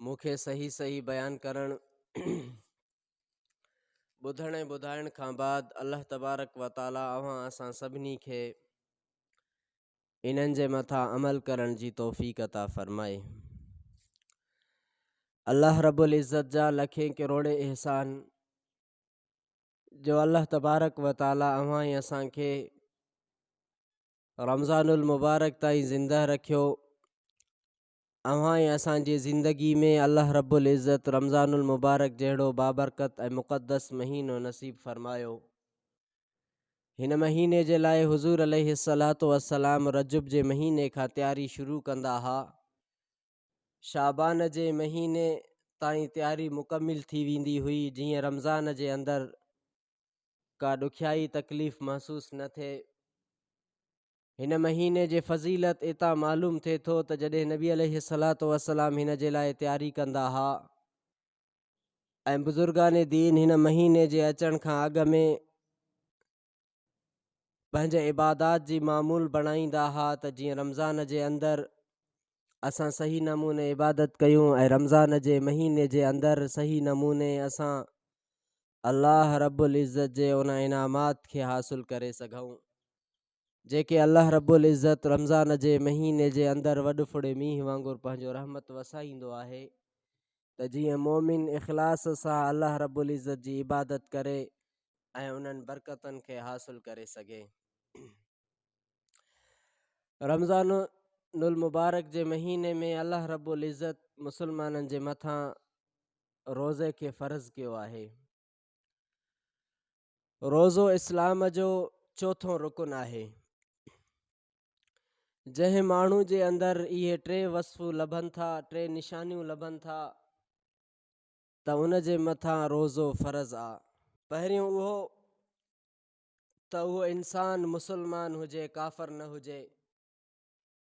مون کي صحيح صحيح بيان ڪرڻ ٻڌڻ ۽ ٻڌائڻ کان بعد الله تبارڪ و تعاليٰ اوهان اسان سڀني کي انهن جي مٿان عمل ڪرڻ جي توفيق عطا فرمائي الله رب العزت جا لکين ڪروڙين احسان جو الله تبارڪ و تعاليٰ اوهان ۽ اسان کي رمضان المبارڪ تائين زندهه رکيو اوهان ۽ اسان جي زندگي ۾ الله رب العزت رمضان المبارڪ جهڙو بابرڪت ۽ مقدس مهينو نصيب فرمايو. هن مهيني جي لاء حضور عليه الصلوة والسلام رجب جي مهيني کان تياري شروع ڪندا ها. شعبان جي مهيني تائين تياري مڪمل ٿي ويندي هئي جيئن رمضان جي اندر ڪا ڏکيائي تڪليف محسوس نه ٿئي. هن مهيني جي فضيلت اتان معلوم ٿئي ٿو ته جڏهن نبي عليه الصلوة والسلام هن جي لاء تياري ڪندا ها ۽ بزرگان دين هن مهيني جي اچڻ کان اڳ ۾ پنهنجي عبادات جي معمول بڻائيندا ها ته جيئن رمضان جي اندر اسان صحيح نموني عبادت ڪيون ۽ رمضان جي مهيني جي اندر صحيح نموني اسان الله رب العزت جي ان انعامات کي حاصل ڪري سگهون جيڪي الله رب العزت رمضان جي مهيني جي اندر وڏ ڦڙي مينهن وانگر پنهنجو رحمت وسائيندو آهي ته جيئن مؤمن اخلاص سان الله رب العزت جي عبادت ڪري ۽ انهن برڪتن کي حاصل ڪري سگهي رمضان المبارڪ جي مهيني ۾ الله رب العزت مسلمانن جي مٿان روزي کي فرض ڪيو آهي روزو اسلام جو چوٿون رڪن آهي. جنهن ماڻهو جي اندر اهي ٽي وصف لڀن ٿا، ٽي نشانيون لڀن ٿا ته ان جي مٿان روزو فرض آ. پهريون اهو ته اهو انسان مسلمان هجي ڪافر نه هجي.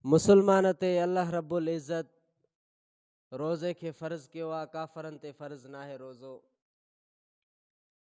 مسلمان تي الله رب العزت روزي کي فرض ڪيو آ، ڪافرن تي فرض ناهي روزو.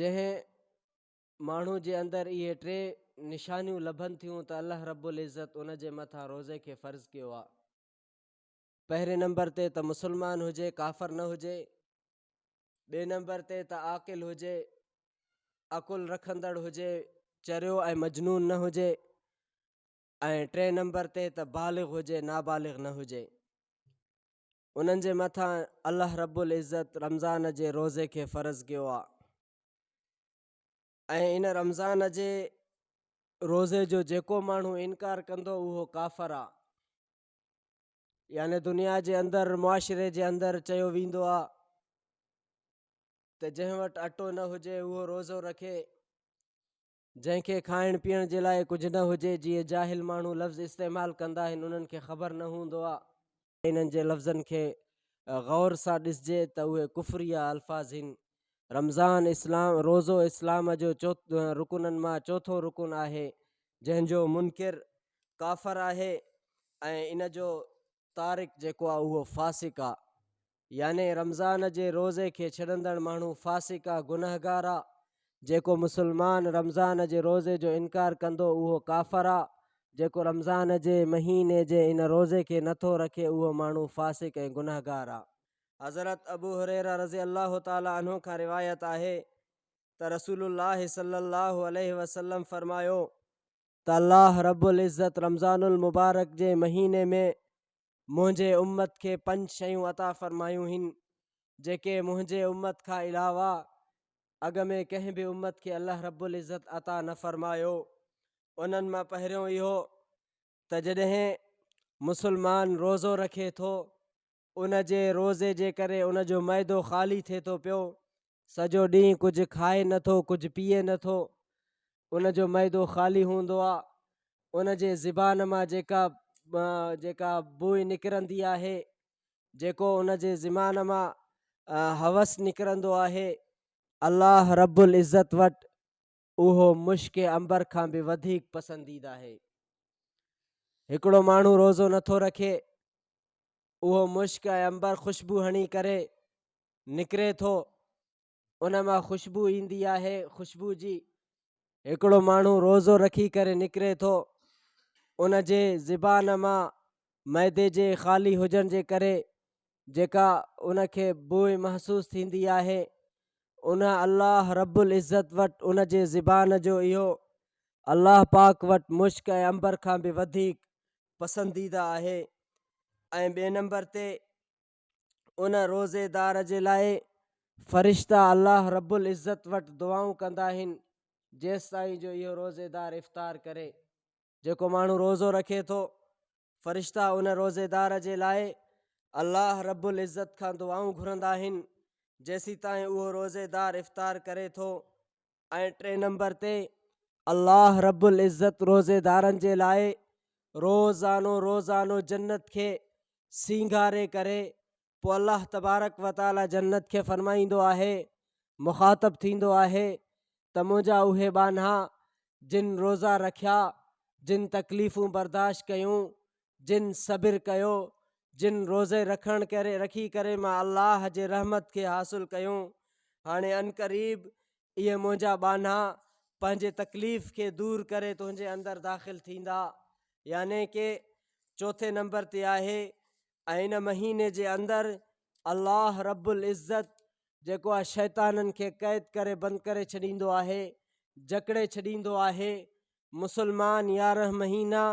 جنهن ماڻهو جي اندر اهي ٽي نشانيون لڀن ٿيون ته الله رب العزت ان جي مٿان روزي کي فرض ڪيو آ پهرين نمبر تي ته مسلمان هجي ڪافر نه هجي ٻي نمبر تي ته عاقل هجي عقل رکندڙ هجي چريو ۽ مجنون نه هجي ۽ ٽئين نمبر تي ته بالغ هجي نابالغ نه هجي انهن جي مٿان الله رب العزت رمضان جي روزي کي فرض ڪيو آهي ۽ ان رمضان جي روزي جو جيڪو ماڻهو انڪار ڪندو اهو ڪافر آهي يعني دنيا جي اندر معاشري جي اندر چيو ويندو آهي ته جنهن وٽ اٽو نه هجي اهو روزو رکي جنهن کي کائڻ پيئڻ جي لاء ڪجهه نه هجي، جيئن جاهل ماڻهو لفظ استعمال ڪندا آهن، انهن کي خبر نه هوندو آ. انهن جي لفظن کي غور سان ڏسجي ته اهي ڪفريه الفاظ هين. رمضان، اسلام، روزو اسلام جو چوٿ رڪنن مان چوٿون رڪن آهي، جنهن جو منڪر ڪافر آهي ۽ ان جو تارڪ جيڪو آ اهو فاسق آ. يعني رمضان جي روزي کي ڇڏندڙ ماڻهو فاسق آ، گنهگار آ، جيڪو مسلمان رمضان جي روزي جو انڪار ڪندو اهو ڪافر آ، جيڪو رمضان جي مهيني جي ان روزي کي نه ٿو رکي اهو ماڻهو فاسق ۽ گنهگار آ. حضرت ابو هريره رضي الله تعالٰي عنه کان روايت آهي ته رسول الله صلّي الله عليه وسلّم فرمايو ته الله رب العزّت رمضان المبارڪ جي مهيني ۾ منهنجي امت کي پنج شيون عطا فرمايون هين جيڪي منهنجي امت کان علاوه اڳ ۾ ڪنهن به امت کي الله رب العزت عطا نه فرمايو انهن مان پهريون اهو ته جڏهن مسلمان روزو رکي ٿو ان جي روزي جي ڪري ان جو معدو خالي ٿي ٿو پيو سڄو ڏينهن ڪجهه کائي نه ٿو، ڪجهه پيئي نه ٿو. ان جو معدو خالي هوندو آ. ان جي زبان مان جيڪا جيڪا بوء نڪرندي آهي، جيڪو ان جي زمان مان هوس نڪرندو آهي، الله رب العزت وٽ اهو مشڪ عنبر کان به وڌيڪ پسنديده آهي هڪڙو ماڻهو روزو نٿو رکي اهو مشڪ ۽ عنبر خوشبو هڻي ڪري نڪري ٿو ان مان خوشبو ايندي آهي خوشبو جي هڪڙو ماڻهو روزو رکي ڪري نڪري ٿو ان جي زبان مان معدي جي خالي هجڻ جي ڪري جيڪا ان کي بوء محسوس ٿيندي آهي ان الله رب العزت وٽ ان جي زبان جو اهو الله پاڪ وٽ مشڪ ۽ امبر کان به وڌيڪ پسنديده آهي ۽ ٻئي نمبر تي ان روزي دار جي لاء فرشتا الله رب العزت وٽ دعائون ڪندا آهن جيستائين جو اهو روزي دار افطار ڪري جيڪو ماڻهو روزو رکي ٿو، فرشتا ان روزيدار جي لاء الله رب العزت کان دعائون گهرندا آهن جيسيتائين اهو روزيدار افطار ڪري ٿو ۽ ٽئين نمبر تي الله رب العزت روزيدارن جي لاء روزانو روزانو جنت کي سينگاري ڪري پوء الله تبارڪ و تعالي جنت کي فرمائيندو آهي، مخاطب ٿيندو آهي ته منهنجا اهي ٻانها جن روزا رکيا، جن تڪليفون برداشت ڪيون، جن صبر ڪيو، جن روزي رکڻ ڪري رکي ڪري مان الله جي رحمت کي حاصل ڪيون، هاڻي عنقريب اهي منهنجا ٻانها پنهنجي تڪليف کي دور ڪري تنهنجي اندر داخل ٿيندا. يعني ڪي چوٿين نمبر تي آهي ۽ ان مهيني جي اندر الله رب العزت جيڪو آهي شيطانن کي قيد ڪري بند ڪري ڇڏيندو آهي جڪڙي ڇڏيندو آهي مسلمان يارهن مهينا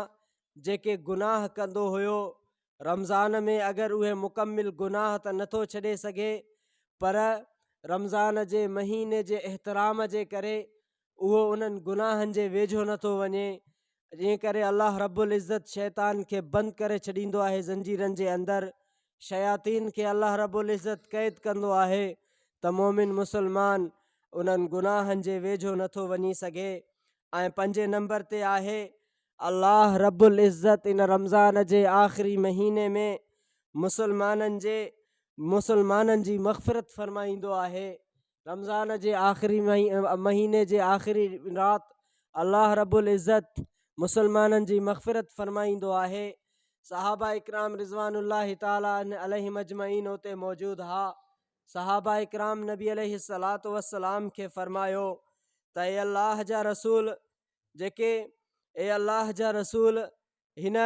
جيڪي گناهه ڪندو هيو رمضان ۾ اگر اهي مڪمل گناهه ته نٿو ڇڏي سگهي پر رمضان جي مهيني جي احترام جي ڪري اهو انهن گناهن جي ويجهو نه ٿو وڃي، جنهن ڪري الله رب العزت شيطان کي بند ڪري ڇڏيندو آهي زنجيرن جي اندر، شياطين کي الله رب العزت قيد ڪندو آهي ته مؤمن مسلمان انهن گناهن جي ويجهو نه ٿو وڃي سگهي ۽ پنجين نمبر تي آهي، الله رب العزت ان رمضان جي آخري مهيني ۾ مسلمانن جي مسلمانن جي مغفرت فرمائيندو آهي، رمضان جي آخري مهيني جي آخري رات الله رب العزت مسلمانن جي مغفرت فرمائيندو آهي صحابه اڪرام رضوان الله تعالٰي عليه مجمعين اتي موجود ها صحابه اڪرام نبي عليه الصلات والسلام کي فرمايو ته اي الله جا رسول جيڪي اي الله جا رسول هن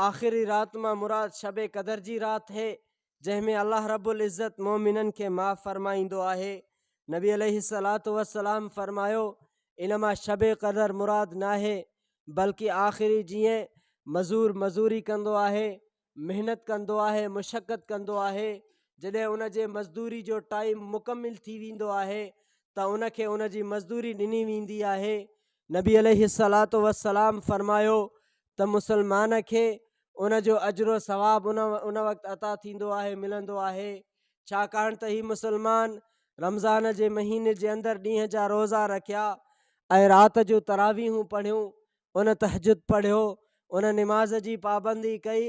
آخري رات مان مراد شب قدر جي رات هي جنهن ۾ الله رب العزت مؤمنن کي معاف فرمائيندو آهي. نبي عليه الصلات والسلام فرمايو ان مان شب قدر مراد ناهي بلڪ آخري جيئن مزور مزوري ڪندو آهي محنت ڪندو آهي مشقت ڪندو آهي جڏهن ان جي مزدوري جو ٽائيم مڪمل ٿي ويندو آهي ته ان کي ان جي مزدوري ڏني ويندي آهي نبي عليه الصلوة والسلام فرمايو ته مسلمان کي ان جو اجر و ثواب ان ان وقت عطا ٿيندو آهي ملندو آهي ڇاڪاڻ ته هي مسلمان رمضان جي مهيني جي اندر ڏينهن جا روزا رکيا ۽ رات جو تراويحون پڙهيون ان تهجد پڙهيو ان نماز جي پابندي ڪئي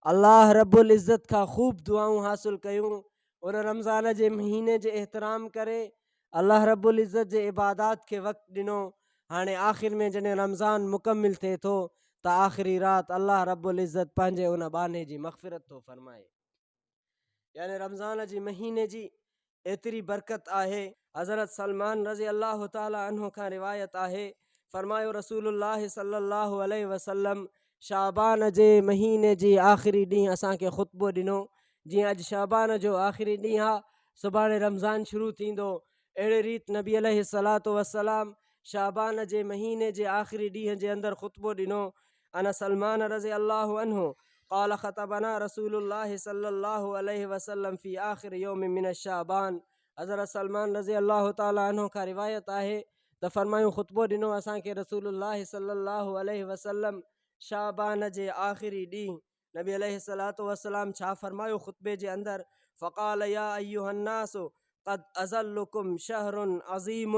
الله رب العزت کان خوب دعائون حاصل ڪيون ان رمضان جي مهيني جي احترام ڪري الله رب العزت جي عبادات کي وقت ڏنو هاڻي آخر ۾ جڏهن رمضان مڪمل ٿئي ٿو ته آخري رات الله رب العزت پنهنجي ان ٻانهي جي مغفرت ٿو فرمائي يعني رمضان جي مهيني جي ايتري برڪت آهي حضرت سلمان رضي الله تعالٰي عنه کان روايت آهي فرمايو رسول الله صلي الله عليه وسلم شعبان جي مهيني جي آخري ڏينهن اسان کي خطبو ڏنو جيئن اڄ شعبان جو آخري ڏينهن آ سڀاڻي رمضان شروع ٿيندو اهڙي ريت نبي عليه الصلوة والسلام شعبان جي مهيني جي آخري ڏينهن جي اندر خطبو ڏنو انا سلمان رضي الله عنه قال خطبنا رسول الله صلي الله عليه وسلم في آخر يوم من الشعبان حضرت سلمان رضي الله تعالٰي عنه کان روايت آهي ته فرمايون خطبو ڏنو اسان کي رسول الله صلي الله عليه وسلم شعبان جي آخري ڏينهن نبي عليه الصلاة والسلام ڇا فرمايو خطبي جي اندر فقال يا ايها الناس قد اظلكم شهر عظيم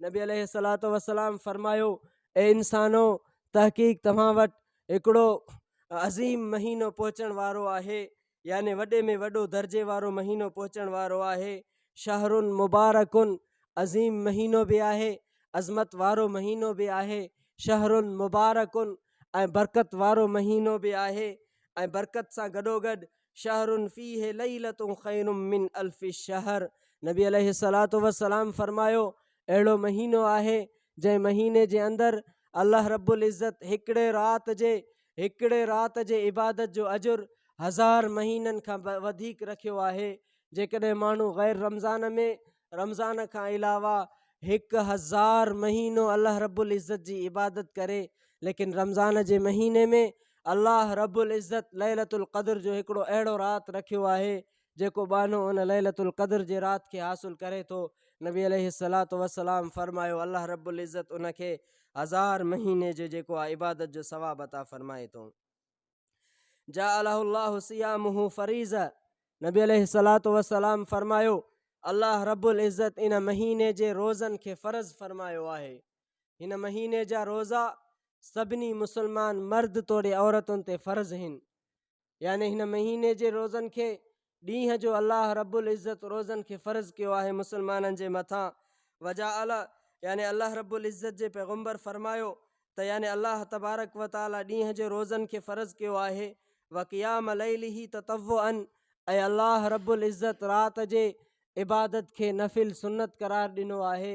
نبي عليه الصلاة والسلام فرمايو اي انسانو تحقيق توهان وٽ هڪڙو عظيم مهينو پهچڻ وارو آهي يعني وڏي ۾ وڏو درجي وارو مهينو پهچڻ وارو آهي، شهر مبارڪ عظيم مهينو به آهي، عظمت وارو مهينو به آهي، شهر مبارڪ ۽ برڪت وارو مهينو به آهي ۽ برڪت سان گڏوگڏ شهر فيه ليلة خير من الف شهر نبي عليه الصلوة والسلام فرمايو اهڙو مهينو آهي جنهن مهيني جي اندر الله رب العزت هڪڙي رات جي هڪڙي رات جي عبادت جو اجر هزار مهينن کان وڌيڪ رکيو آهي جيڪڏهن ماڻهو غير رمضان ۾ رمضان کان علاوه هڪ هزار مهينو الله رب العزت جي عبادت ڪري ليڪن رمضان جي مهيني ۾ الله رب العزت ليلت القدر جو هڪڙو اهڙو رات رکيو آهي جيڪو ٻانهو ان ليلة القدر جي رات کي حاصل ڪري ٿو، نبي عليه الصلوة والسلام فرمايو، الله رب العزت ان کي هزار مهيني جو جيڪو آهي عبادت جو ثواب عطا فرمائي ٿو. جعله الله صيامه فريضة نبي عليه الصلوة والسلام فرمايو، الله رب العزت ان مهيني جي روزن کي فرض فرمايو آهي. هن مهيني جا روزا سڀني مسلمان مرد توڙي عورتن تي فرض هن. يعني هن مهيني جي روزن کي ڏينهن جو الله رب العزت روزن کي فرض ڪيو آهي مسلمانن جي مٿان وجعل يعني الله رب العزت جي پيغمبر فرمايو ته يعني الله تبارڪ و تعالي ڏينهن جي روزن کي فرض ڪيو آهي وقيام ليله تطوعا ۽ الله رب العزت رات جي عبادت کي نفل سنت قرار ڏنو آهي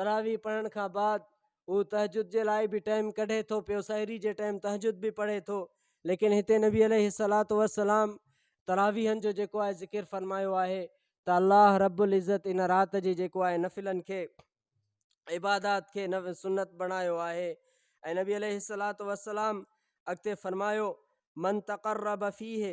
تراويح پڙهڻ کان بعد هو تهجد جي لاء به ٽائيم ڪڍي ٿو پيو سحري جي ٽائيم تهجد به پڙهي ٿو ليڪن هتي نبي عليه الصلات والسلام تراويحن جو جيڪو آهي ذڪر فرمايو آهي ته الله رب العزت ان رات جي جيڪو آهي نفلن کي عبادات کي سنت بڻايو آهي ۽ نبي عليه الصلات والسلام اڳتي فرمايو من تقرب فيه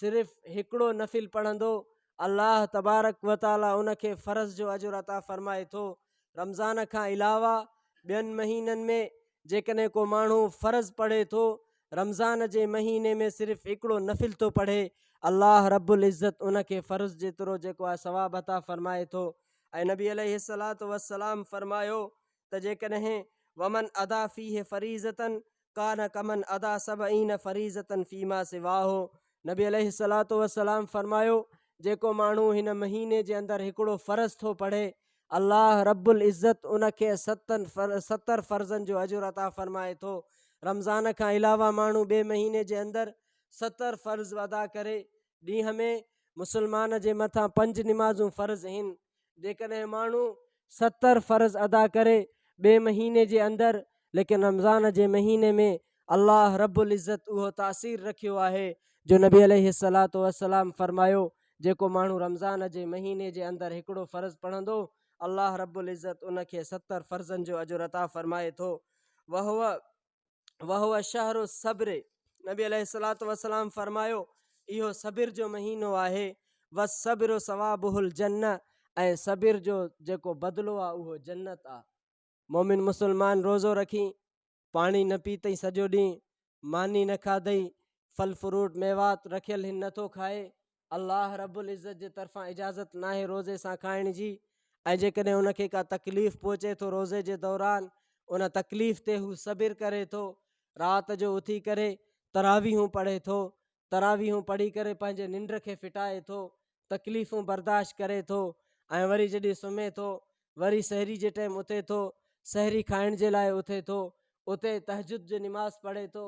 صرف هڪڙو نفل پڙهندو الله تبارڪ و تعالي ان کي فرض جو اجر عطا فرمائي ٿو رمضان کان علاوه ٻين مهينن ۾ جيڪڏهن ڪو ماڻهو فرض پڙهي ٿو رمضان جي مهيني ۾ صرف هڪڙو نفل ٿو پڙهي الله رب العزت ان کي فرض جيترو جيڪو آهي ثواب عطا فرمائي ٿو ۽ نبي عليه الصلاة والسلام فرمايو ته جيڪڏهن ومن ادا فيه فريضة ڪان ڪمن ادا سبعين فريضة فيما سواه نبي عليه الصلوة والسلام فرمايو جيڪو ماڻهو هن مهيني جي اندر هڪڙو فرض ٿو پڙهي الله رب العزت ان کي ستن ستر فرضن جو اجر عطا فرمائي ٿو رمضان کان علاوه ماڻهو ٻئي مهيني جي اندر ستر فرض ادا ڪري ڏينهن ۾ مسلمان جي مٿان پنج نمازون فرض هن جيڪڏهن ماڻهو ستر فرض ادا ڪري ٻئي مهيني جي اندر ليڪن رمضان جي مهيني ۾ الله رب العزت اهو تاثير رکيو آهي جو نبي عليه الصلوة والسلام فرمايو جيڪو ماڻهو رمضان جي مهيني جي اندر هڪڙو فرض پڙهندو الله رب العزت ان کي ستر فرضن جو اجر عطا فرمائي ٿو وهو وهو شهر الصبر نبي عليه الصلاة والسلام فرمايو اهو صبر جو مهينو آهي والصبر ثوابه الجنه ۽ صبر جو جيڪو بدلو آ اهو جنت آ مومن مسلمان روزو رکي پاڻي نه پيتئي سڄو ڏينهن ماني نه کاڌئي ڦل فروٽ ميوات رکيل هن نٿو کائي الله رب العزت جي طرفان اجازت ناهي روزي سان کائڻ جي ۽ جيڪڏهن ان کي ڪا تڪليف پهچي ٿو روزي جي دوران ان تڪليف تي هو صبر ڪري ٿو رات جو اٿي ڪري تراويحون پڙهي ٿو تراويحون پڙهي ڪري پنهنجي ننڊ کي ڦٽائي ٿو تڪليفون برداشت ڪري ٿو ۽ وري جڏهن سمهي ٿو وري سحري جي ٽائم اٿي ٿو سحري کائڻ جي لاء اٿي ٿو اتي تهجد جو نماز پڙهي ٿو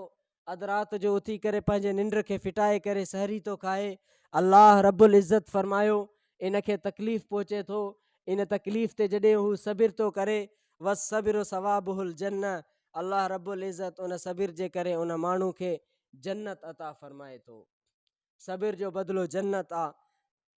اڌ رات جو اٿي ڪري پنهنجي ننڊ کي ڦٽائي ڪري سحري ٿو کائي الله رب العزت فرمايو ان کي تڪليف پهچي ٿو ان تڪليف تي جڏهن هو صبر ٿو ڪري وس صبر ثوابه الجنه الله رب العزت ان صبر جي ڪري ان ماڻهو کي جنت عطا فرمائي ٿو صبر جو بدلو جنت آ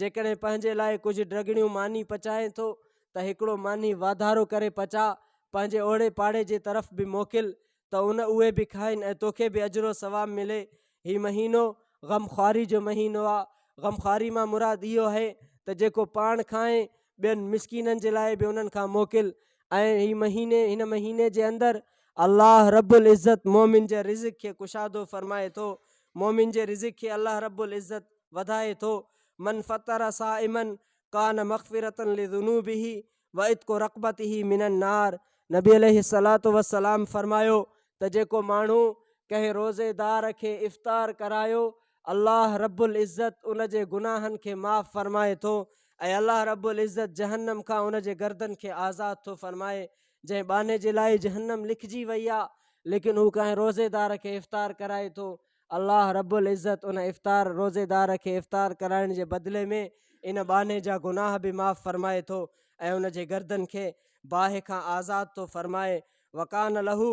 جيڪڏهن پنهنجي لاء ڪجهه ڊگهڻيون ماني پچائين ٿو ته هڪڙو ماني واڌارو ڪري پچاء، پنهنجي اوڙي پاڙي جي طرف به موڪل ته ان اهي به کائين ۽ توکي به اجر و ثواب ملي. هي مهينو غم خواري جو مهينو آ. غم خواري مان مراد اهو اهي ته جيڪو پاڻ کائين ٻين مسڪينن جي لاء به انهن کان موڪل ۽ هي مهيني هن مهيني جي اندر الله رب العزت مؤمن جي رزق کي ڪشادو فرمائي ٿو مؤمن جي رزق کي الله رب العزت وڌائي ٿو من فطر صائما ڪان مغفرة لذنوبه وعتق رقبته من النار نبي عليه الصلاه والسلام فرمايو ته جيڪو ماڻهو ڪنهن روزيدار کي افطار ڪرايو الله رب العزت ان جي گناهن کي معاف فرمائي ٿو ۽ الله رب العزت جهنم کان ان جي گردن کي آزاد ٿو فرمائي جنهن ٻانهي جي لاء جهنم لکجي وئي آهي ليڪن هو ڪنهن روزيدار کي افطار ڪرائي ٿو الله رب العزت ان افطار روزيدار کي افطار ڪرائڻ جي بدلي ۾ ان ٻانهي جا گناهه به معاف فرمائي ٿو ۽ ان جي گردن کي باهه کان آزاد ٿو فرمائي وڪان لهو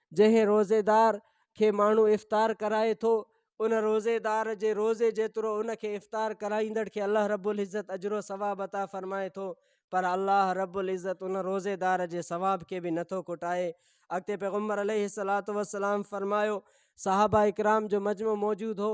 جنهن روزيدار کي ماڻهو افطار ڪرائي ٿو، ان روزيدار جي روزي جيترو ان کي افطار ڪرائيندڙ کي الله رب العزت اجر و ثواب عطا فرمائي ٿو، پر الله رب العزت ان روزيدار جي ثواب کي به نٿو کوٽائي. اڳتي پيغمبر عليه الصلوة والسلام فرمايو، صحابه ڪرام جو مجمع موجود هو،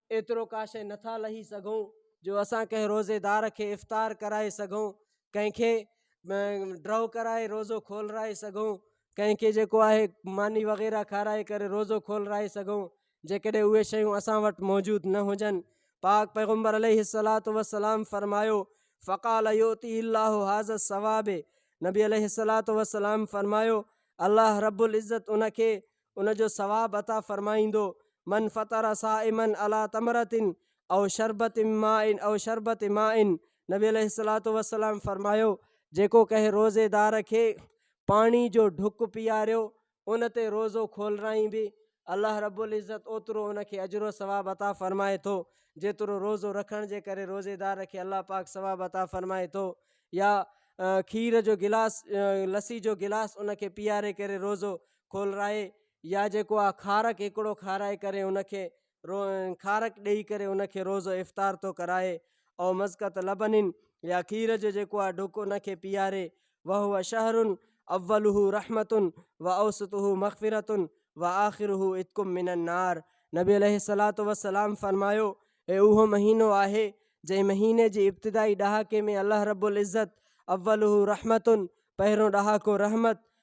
ايترو ڪاشي نه ٿا لهي سگهون جو اسان ڪنهن روزيدار کي افطار ڪرائي سگهون، ڪنهن کي ڊرو ڪرائي روزو کولرائي سگهون، ڪنهن کي جيڪو آهي ماني وغيره کارائي ڪري روزو کولرائي سگهون، جيڪڏهن اهي شيون اسان وٽ موجود نه هجن. پاڪ پيغمبر عليه الصلوة والسلام فرمايو، فقال يؤتيه الله هذا الثواب نبي عليه الصلوة والسلام فرمايو، الله رب العزت ان کي ان جو ثواب عطا فرمائيندو، من فطر صائما علي تمرة او شربة ماء او شربة ماء نبي عليه الصلوة والسلام فرمايو، جيڪو ڪنهن روزيدار کي پاڻي جو ڍڪ پياريو ان تي روزو کولرائين به الله رب العزت اوترو ان کي اجر و ثواب عطا فرمائي ٿو جيترو روزو رکڻ جي ڪري روزيدار کي الله پاڪ ثواب عطا فرمائي ٿو يا کير جو گلاس لسي جو گلاس ان کي پياري ڪري روزو کولرائي يا جيڪو آ کارڪ هڪڙو کارائي ڪري ان کي رو کارڪ ڏئي ڪري ان کي روزو افطار ٿو ڪرائي او مزقة لبن يا کير جو جيڪو آ ڍڪ ان کي پياري وهو شهر اوله رحمة واوسطه مغفرة واخره عتق من النار نبي عليه الصلاة والسلام فرمايو هي اهو مهينو آهي جنهن مهيني جي ابتدائي ڏهاڪي ۾ الله رب العزت اوله رحمة پهريون ڏهاڪو رحمت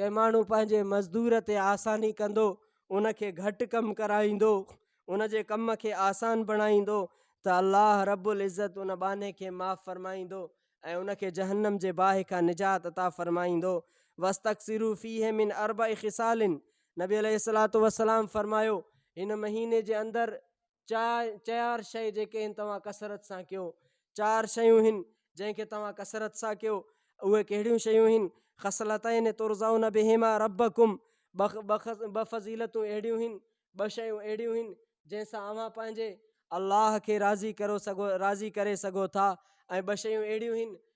ڪي ماڻهو پنهنجي مزدور تي آساني ڪندو ان کي گهٽ ڪم ڪرائيندو ان جي ڪم کي آسان بڻائيندو ته الله رب العزت ان ٻانهي کي معاف فرمائيندو ۽ ان کي جهنم جي باهه کان نجات عطا فرمائيندو واستڪثروا فيه من اربع خصال نبي عليه الصلوة والسلام فرمايو هن مهيني جي اندر چار چيار شيء جيڪي هن توهان ڪثرت سان ڪيو چار شيون هن جنهن کي توهان ڪثرت سان ڪيو اهي ڪهڙيون شيون هن خصلتين ترزون بهما ربكم بخ بخ ب فضيلتون اهڙيون هن ٻه شيون اهڙيون هن جنهن سان اوهان پنهنجي الله کي راضي ڪرو سگهو راضي ڪري سگهو ٿا ۽ ٻه شيون اهڙيون هن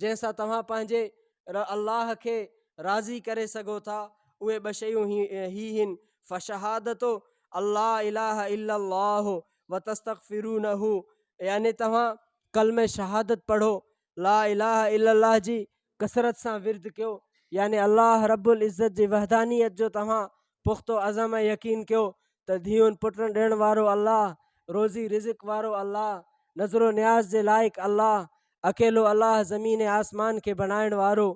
جنهن سان توهان پنهنجي رب الله کي راضي ڪري سگهو ٿا، اهي ٻه شيون هي هن، فشهادتو ان لا اله الا الله وتستغفرونه يعني توهان ڪلمه شهادت پڙهو، لا اله الا الله جي ڪثرت سان ورد ڪيو يعني الله رب العزت جي وحدانيت جو توهان پختو عزم ۽ يقين ڪيو ته ڌيئن پٽن ڏيڻ وارو الله، روزي رزق وارو الله، نذر و نياز جي لائق الله، اڪيلو الله زمين ۽ آسمان کي بڻائڻ وارو،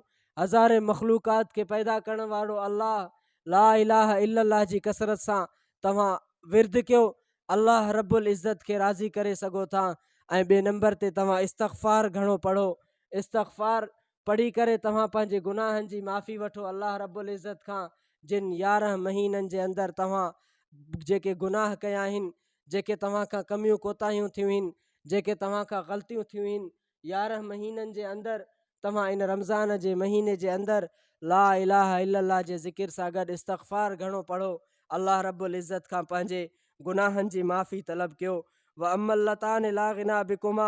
هزارين مخلوقات کي پيدا ڪرڻ وارو الله، لا اله الا الله جي ڪثرت سان توهان ورد ڪيو، الله رب العزت کي راضي ڪري سگهو ٿا ۽ ٻئي نمبر تي توهان استغفار گهڻو پڙهو، استغفار پڙهي ڪري توهان پنهنجي گناهن جي معافي وٺو الله رب العزت کان جن يارهن مهينن جي اندر توهان جيڪي گناهه ڪيا آهن جيڪي توهان کان ڪميون ڪوتاهيون ٿيون آهن جيڪي توهان کان غلطيون ٿيون آهن يارهن مهينن جي اندر توهان ان رمضان جي مهيني جي اندر لا اله الا الله جي ذڪر سان گڏ استغفار گهڻو پڙهو الله رب العزت کان پنهنجي گناهن جي معافي طلب ڪيو و ام اللتان لا غنا بڪما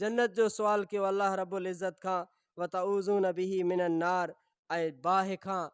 جنت جو سوال ڪيو الله رب العزت کان وتعوذون به من النار ۽ باهه کان،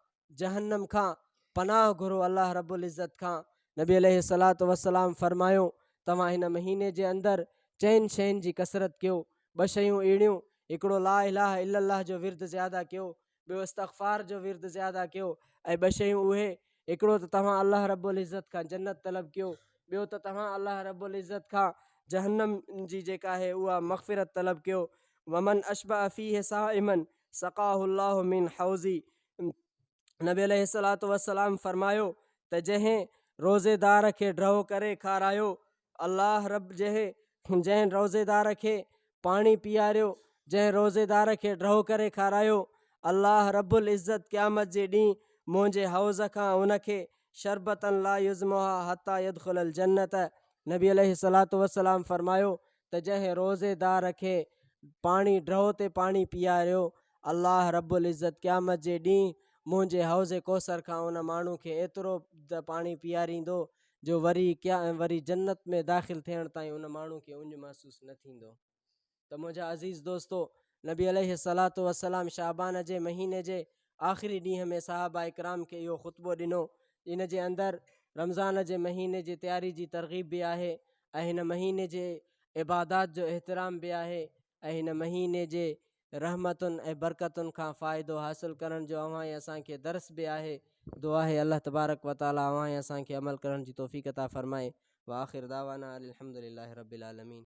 جهنم کان، پناهه گهرو الله رب العزت کان، نبي عليه الصلوة والسلام فرمايو توهان هن مهيني جي اندر چئن شين جي ڪثرت ڪيو، ٻه شيون اهڙيون هڪڙو لا اله الا الله جو ورد زياده ڪيو ٻيو استغفار جو ورد زياده ڪيو ۽ ٻه شيون اهي هڪڙو ته توهان الله رب العزت کان جنت طلب ڪيو ٻيو ته توهان الله رب العزت کان جهنم جي جيڪا آهي اها مغفرت طلب ڪيو ومن اشبع فيه صائما سقاه الله من حوزي نبي عليه الصلاة والسلام فرمايو ته جنهن روزيدار کي ڊهو ڪري کارايو الله رب جه جنهن روزيدار کي پاڻي پياريو، جنهن روزيدار کي ڊهو ڪري کارايو، الله رب العزت قيامت جي ڏينهن منهنجي حوض کان ان کي شربة لا يظمها حتي يدخل الجنة نبي عليه الصلوة والسلام فرمايو ته جنهن روزيدار کي پاڻي ڊهو تي پاڻي پياريو، الله رب العزت قيامت جي ڏينهن منهنجي حوض ڪوثر کان ان ماڻهو کي ايترو ته پاڻي پياريندو جو وري ڪيا ۽ وري جنت ۾ داخل ٿيڻ تائين ان ماڻهو کي اڃ محسوس نه ٿيندو ته منهنجا عزيز دوستو نبي عليه الصلات والسلام شعبان جي مهيني جي آخري ڏينهن ۾ صحابه اڪرام کي اهو خطبو ڏنو ان جي اندر رمضان جي مهيني جي تياري جي ترغيب به آهي ۽ هن مهيني جي عبادات جو احترام به آهي ۽ هن مهيني جي رحمتن ۽ برڪتن کان فائدو حاصل ڪرڻ جو اوهان ۽ اسان کي درس به آهي. دعا آهي الله تبارڪ و تعالي اوهان ۽ اسان کي عمل ڪرڻ جي توفيق عطا فرمائي. واخر دعوانا ان الحمدلله رب العالمين.